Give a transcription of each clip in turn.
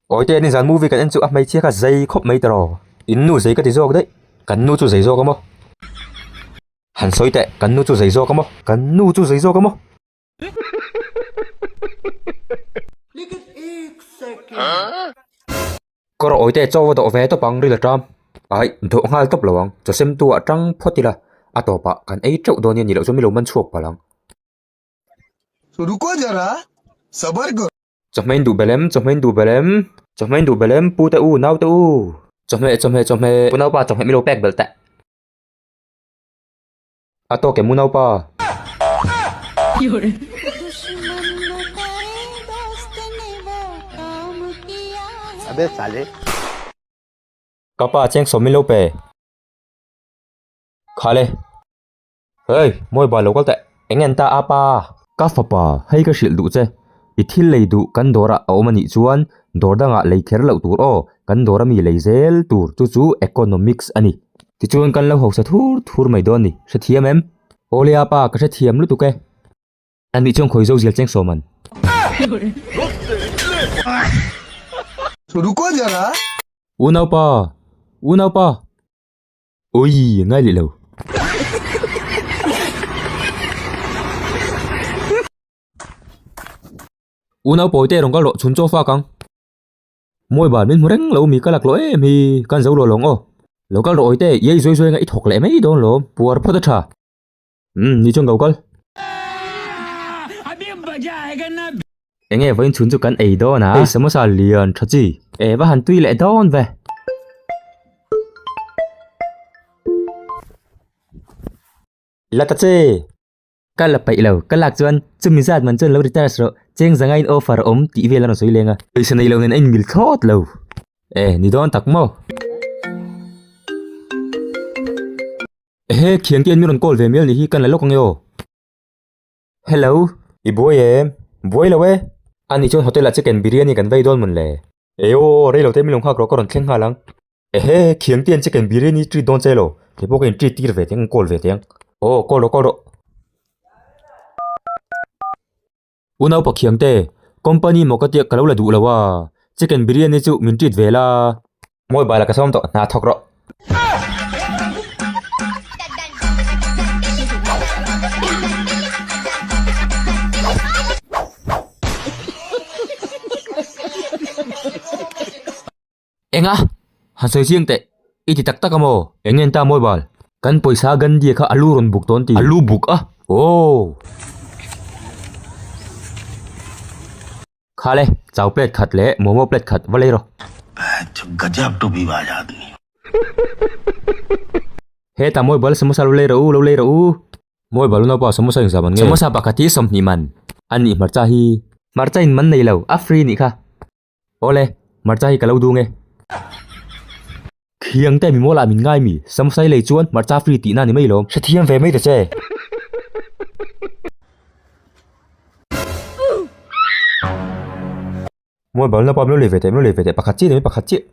Awite an inzan movie kan en chu a hmeichhia kha zei khawp mai ta raw. In nu zei ka ti zawk daih. Kan nu chu zei zawk a maw. Han sawi teh. Kan nu chu zei zawk a maw. Kan nu chu zei zawk a maw. Ka rawh awite chau a dawh ve tawp ang ril a ṭam. Ai, dawh nghal tawp lo ang. Chawsem tu ah ṭang phawt ila a tawpah kan ei ṭeuh dawn nia nih loh chuan mi lo man chhuak palh ang. Ruko zara, sabar kar. Chawhmeh in duh belem, chawhmeh in duh belem. Chawhmeh in duh belem, pu te u, nau te u. Chawhmeh, chawhmeh, chawhmeh. Pu naupa chawhmeh mi lo pek belh teh. A tawk em u naupa. Abe sale. Ka pa cheng sawm min lo pe. Khale. Hei, mawi ba lo kal teh. Eng en ta apa? Ka fapa, hei ka hrilh duh che, i thil lei duh kan dawrah a awm a nih chuan dawr dangah lei kher loh tur aw, kan dawra mi lei zel tur chu chu economics a ni. Tichuan kan lo hausa thur thur mai dawn ni, hrethiam em? Awlea pa, ka hrethiam lutuk e. An nih chuan khawi zo zial cheng sawm an. Unaupa! Unaupa! Ui, ngai leh lo. Unau pawi te rong kal rawh, chhun chaw fak ang. Mawi ban min hmu reng lo, mi ka lak loh em hi, kan zo luah lawng aw. Lo kal rawh awite, i ei zuai zuai anga i thawk leh mai dawn lawm, puar phawt a tha. Umm ni chuan ko kal. Eng nge vawiin chhun chu kan ei dawn a. Hei samosa lian tha chi. Eh va han tui leh dawn ve. La ta che. Ka la paih lo, ka lak chuan chumi zat man chuan lo retire si rawh, cheng zanga in offer a awm tih vel a rawn sawi leng a. Pawisa nei lo nen a inbil thlawt lo. Eh ni dawn tak maw. Ehe, thian te an min rawn call ve mial ni hi, kan la lawk ange aw? Hello. I buai em? Buai lo e. Ani chuan hotel ah chicken biryani kan vei dawn mun le. Ee aw aw, rei lo te min lo nghak rawh, ka rawn thleng nghal ang. Ehe, thian te an chicken biryani treat dawn che lo, kei pawh ka in treat tir ve teng, in call ve teng. Aw, call rawh, call rawh. U Naupa Khiang te, company maw ka tia ka lo la duh lo a, chicken biriyani chu min treat ve la. Mobile a ka sawm tawh, hna thawk rawh. Enga? Hasawi chiang teh i ti tak tak a maw? Eng nge an ta mawi bal? Kan pawisa Gandhi-a kha a lu rawn buk tawn ti. A lu buk a? Aww! Khale, chau plate khat leh momo plate khat va lei rawh. He ta mawi bal samosa lo lei rawh u, lo lei rawh u. Mawi bal u naupa samosa inzam an nge? Samosa pakhat hi sawm hnih man. An nih hmarcha hi. Hmarcha in man nei lo, a free nih kha. Awle, hmarcha hi ka lo dûng e. Thiang te mi maw lah min ngai mi? Samosai lei chuan hmarcha free tihna ni mai lawm. Hrethiam ve mai ta che. Mobile napa min lo lei ve teh, min lo lei ve teh, pakhat chiah ni mai pakhat chiah.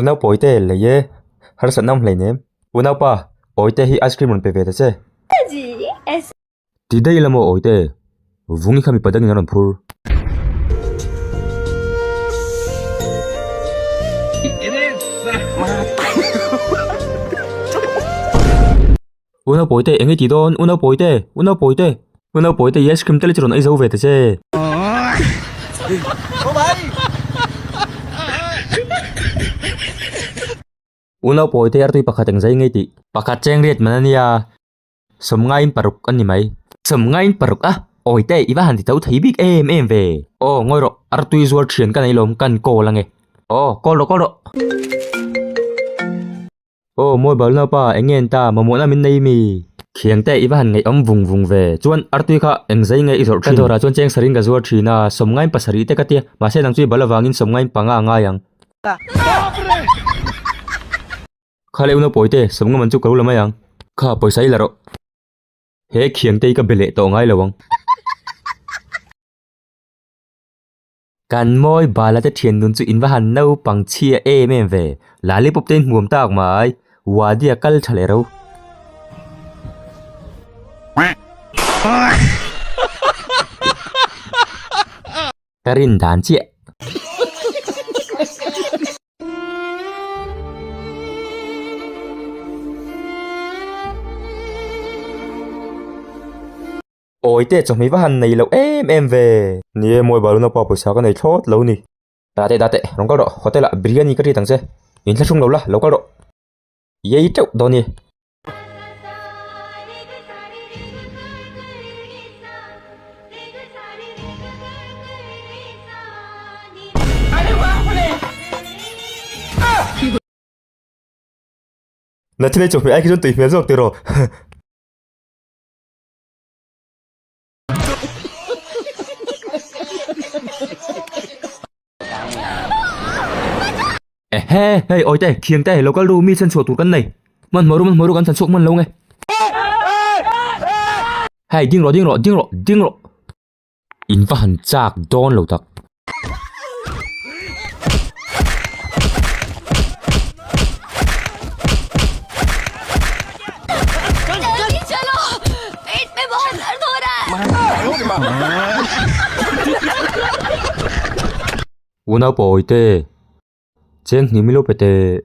Unau pawi te lei e, harsa nauh hlei nem. Unau pa, awi te hi ice cream rawn pe ve ta che. Ti daih la maw awi te, vungi kha mipa dangin a rawn phur. U Naupawite te eng nge ti dawn? U Naupawite te! U Naupawite te! U Naupawite te i ice cream te leh chu rawn aizo ve ta che. U Naupawite te artui pakhat eng zai nge tih? Pakhat cheng riat man a nia, sawm ngaiin paruk a ni mai. Sawm ngaiin paruk a, awite i va han ti tho thei bik em em ve. Aw, ngawi rawh, artui zuar thian ka nei lawm, kan call a nge. Aw, call rawh, call rawh. Aw, mawi bal naupa, eng nge enta, mamawhna min nei imi? Khiangte i va han ngaihawm vung vung ve. Chuan, Artui kha eng zai nge i zawrh thin? Ka dawrah chuan cheng sarin ka zuar thin a, sawmngaim pasarih te ka tia, mahse nang chu i bal avangin sawmngaim panga a ngai ang. Kha leh u naupawite, sawmnga man chu ka lo la mai ang. Kha, pawisa i la rawh. He Khiangte i ka be leh tawh ngai lo ang. Kan mawi bala te thiannun chu in va han naupang chhia em em ve. Lollipop te in hmuam tak mai. Wadia kal tha leh ro. Ka rin dan chiah. Awi teh chawhmeh va han nei loh em em ve. Ni e, mawi balu naupa pawisa ka nei thlawt lo ni. Da teh da teh, rawn kal rawh, hotel ah Biriyani ka treat ang che. In thla hrum lo la, lo kal rawh. Yei teuh dawn i. Na thil hi chawhmeh ai khi chuan tui hmel zawk tiraw. Ehe, hei oi te, thiang te, local ru mi chan chua tur kan nei. Man maru man maru kan chan chuk man lo nge. Hei ding ro ding ro ding ro ding ro. In ka han chak dawn lo tak. Una pawih te, cheng hnih milo pe teh.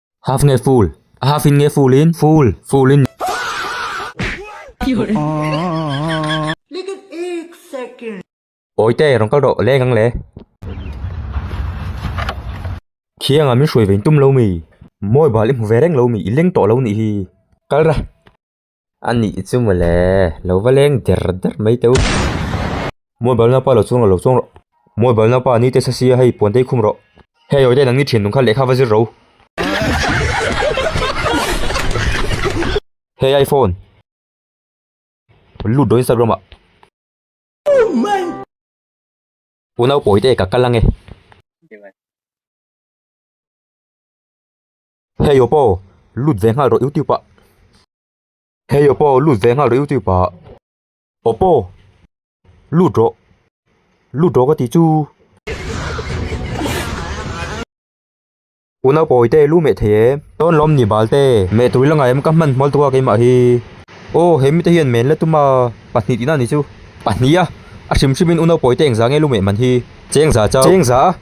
Half nge full? A half in nge full in? Full, full in. Lekin ek second. Awi te rawn kal rawh leng ang le. Khiang ah min hruai ve in tum lo mi? Mawibal i hmu ve reng lo mi? I leng tawh lo nih hi. Kal ra. A nih chu mawle lo va leng der der mai teh u. Mawi bal naupa lo chuang rawh lo chuang rawh. Mawi bal naupa ni test a sia hei puan te i khum rawh. Hei awi te nang ni thinlung kha lehkha va zir ro. Hei iphone lut rawh instagram ah. Pu naupawi te ka kal ange. Hei aw paw, lut ve nghal rawh youtube ah. Hei aw paw, lut ve nghal rawh youtube ah. Aw paw, lut rawh, lut rawh ka ti chu. U Naupawi te lu meh thei e. Tawn lawm ni bal te. Meh tui la ngai em ka hman hmawlh tuk a keimah hi. Aw he mite hian men la tum a, pahnih tihna a ni chu. Pahnih a, a hrim hrim in u Naupawi te engzah nge lu meh man hi. Chengza chau. Chengza a,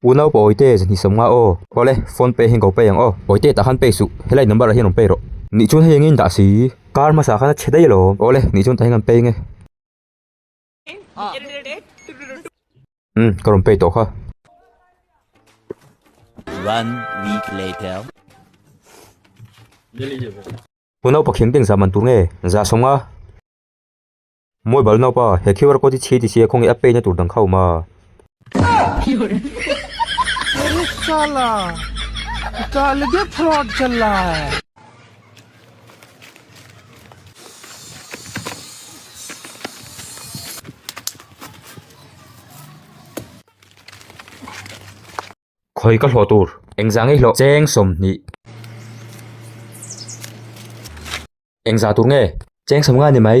Pu Naupa Awite zan hnisam nga aw. Awle, phone pay hi engko pay ang aw. Awite tah khan pay suh, helai number ah hian rawn pay rawh. Nihchun hei engin dah si? Car hmasa khan a chhe daih alawm. Awle, nihchun tah hian kan pay nge. Umm, ka rawn pay tawh kha. One week later. Pu Naupa Khingteng zah man tur nge? Zah sawm nga. Mawi bal naupa, he QR code hi chhiti sia khawngin a pay na tur dang kha a awm a. Khawi ka hlawh tur. Engzah ngei hlawh cheng sawmhnih. Engzah tur nge cheng sawm ngani mai.